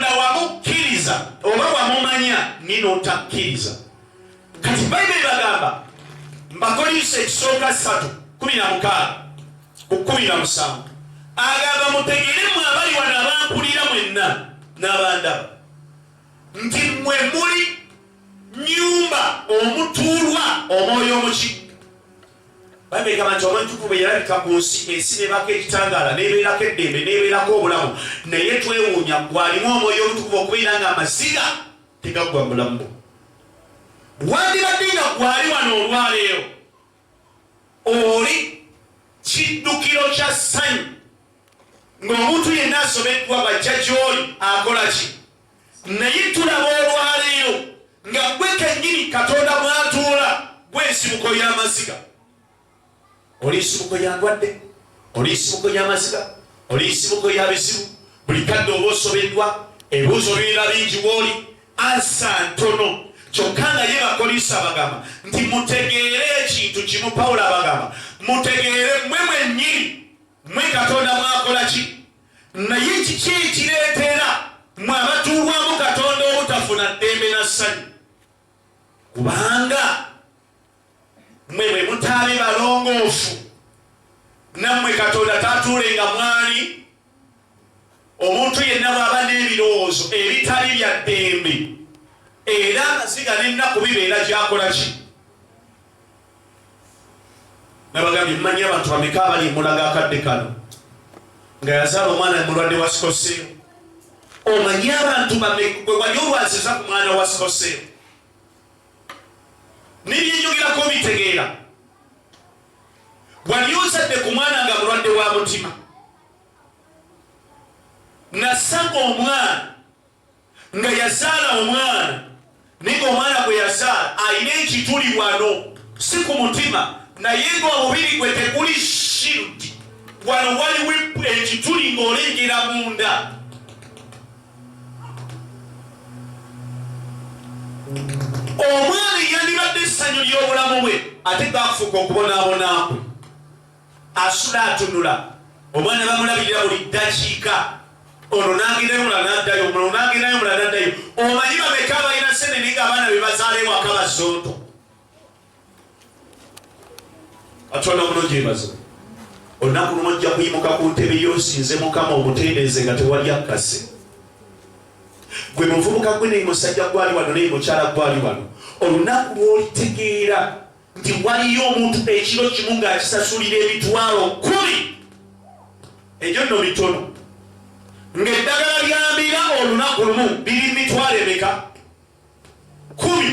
katonda wamukkiriza oba wamumanya nina otakkiriza kati bayibuli bagamba mbakolinso ekisooka ssatu kumi na mukaaga ku kumi na musanvu agamba mutegeremu abali wano abampulira mwenna n'abandaba nti mwe muli nyumba omutuulwa omwoyo omukiga Bayibuli egamba nti olw'entukuvu bwe yalabika ku nsi, ensi n'ebaako ekitangaala, n'ebeerako eddembe, n'ebeerako obulamu. Naye twewuunya ggwe alimu omwoyo omutukuvu okubeera ng'amaziga tegaggwa mu bulamu bwo. Wandibadde nga gwali wano olwaleero, oli kiddukiro kya ssanyu. Ng'omuntu yenna asobeddwa bw'ajja gy'oli akola ki? Naye tulaba olwaleero nga gwe kennyini Katonda mwatuula gwe nsibuko y'amaziga. Oli nsibuko ya ndwadde, oli nsibuko y'amaziga, oli nsibuko ya bizibu. Buli kadde oba osobeddwa, ebibuuzo bibeera bingi wooli, ansa ntono. Kyokka nga ye Bakolinso abagamba nti mutegeere ekintu kimu. Pawulo abagamba mutegeere mwe mwennyini mwe Katonda mwakola ki? Naye kiki ekireetera mwe abatuulwamu Katonda obutafuna ddembe na ssanyu? Kubanga mwe bwe mutaabe balongoofu, nammwe Katonda tatuulenga mwali. Omuntu yenna bw'aba n'ebirowoozo ebitali bya ddembe, era amaziga n'ennaku bibeera gy'akola ki? nabagambye mmanyi abantu bameka abali emulaga akadde kano nga yazaala omwana mulwadde wa sikoseewo omanyi abantu bamekwe wali olwaziza ku mwana wa sikoseewo nebyenyogerako bitegeera wali ozadde ku mwana nga mulwadde wa mutima nasanga omwana nga yazaala omwana naye ng'omwana gwe yazaala alina ekituli wano si ku mutima naye ng'omubiri gwe teguli shirki wano waliwo ekituli ng'olengera munda omwana eyandibadde essanyu ly'obulamu bwe ate gaafuuka okubonaabonaakwe Asula atunula, omwana bamulabirira buli ddakiika, ono n'agendayo omulala n'addayo, omulala n'agendayo omulala n'addayo. Omanyi bameka abalina ssenene ng'abaana be bazaala ewaka bazonto? Katonda omulungi yebaza. Olunaku lumu ojja kuyimuka ku ntebe yo nsinze Mukama omutendenze nga tewali akkase. Gwe muvubuka gwe naye musajja gwali wano naye mukyala gwali wano. Olunaku lw'olitegeera nti waliyo omuntu ekiro kimu ng'akisasulira emitwalo kkumi egyo nno mitono ng'eddagala lyambira olunaku lumu biri mitwalo emeka kkumi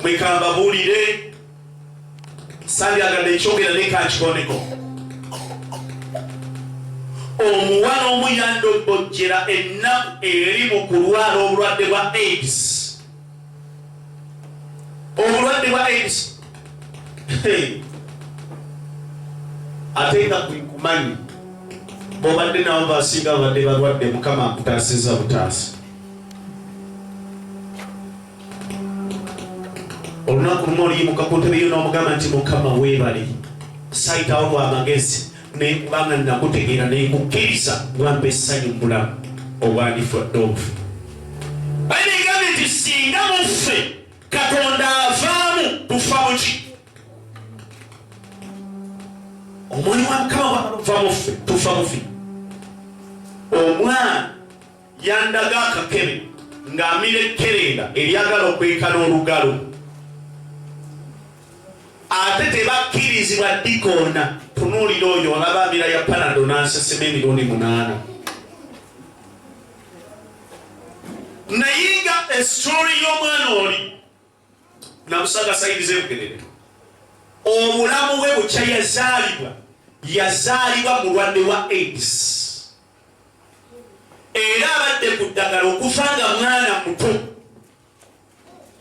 mwekambabuulire sandyagadde ekyogera nekakikoneko omuwala omu yandobojjera ennaku eri mu kulwala obulwadde bwa aids obulwadde bwa aids ate nga kwekumanyi bobadde nabo basinga babadde balwadde mukama akutaasiza butaasi olunaku lumu oliyimukakutebe yo n'omugamba nti mukama weebale sayitawo lwamagezi naye kubanga nakutegeera naye kukkiriza wampa essanyu mubulamu obwandifwadde obufu bayibuli egambye nti singa muffe katonda avaamu tufa muki omwoyo wa mukama bwava muffe tufa mufi omwana Yandaga akakebe ng'amira ekkerenda eryagala okwekana olugalo. Ate tebakkirizibwa dikoona. Tunuulira oyo olaba amira ya panado n'ansesema emirundi munaana. Naye nga esitoli y'omwana oli namusaga sayidi zebugerere obulamu bwe bukya yazaalibwa yazaalibwa mulwadde wa aids era abadde ku ddagala okufa nga mwana muto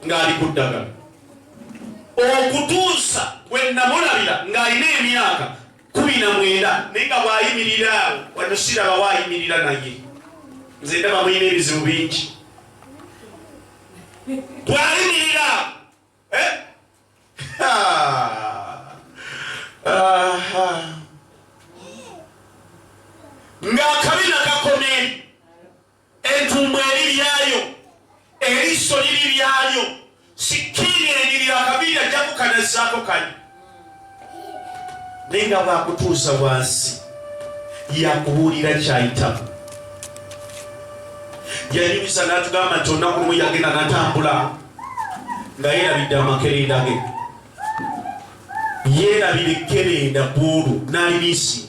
ng'ali ku ddagala okutuusa bwe namulabira ng'alina emyaka kumi na mwenda naye nga bwayimirira awo wano siraba wayimirira naye nze ndaba mulina ebizibu bingi bwayimirira eh? ng'akabina kakomye Entumbwe eri lyayo, eriiso liri lyayo, sikkiini enyirira akaviiri ajja kukanazzaako kali naye nga bwakutuusa wansi yakubuulira kyayitamu yayingiza natugamba nti olunaku lumu yagenda natambula nga yerabidde amakerenda ge yerabira ekkerenda bwolu nalibisi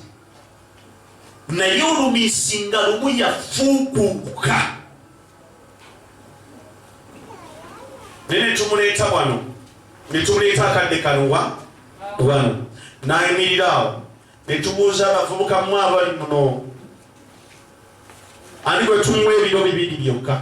naye olumisi nga lumu yafuukuuka naye netumuleeta wano netumuleeta akadde kaluwa wano nayimirira awo netubuuza abavubuka mu abali muno ani bwe tumuwa ebiro bibiri byokka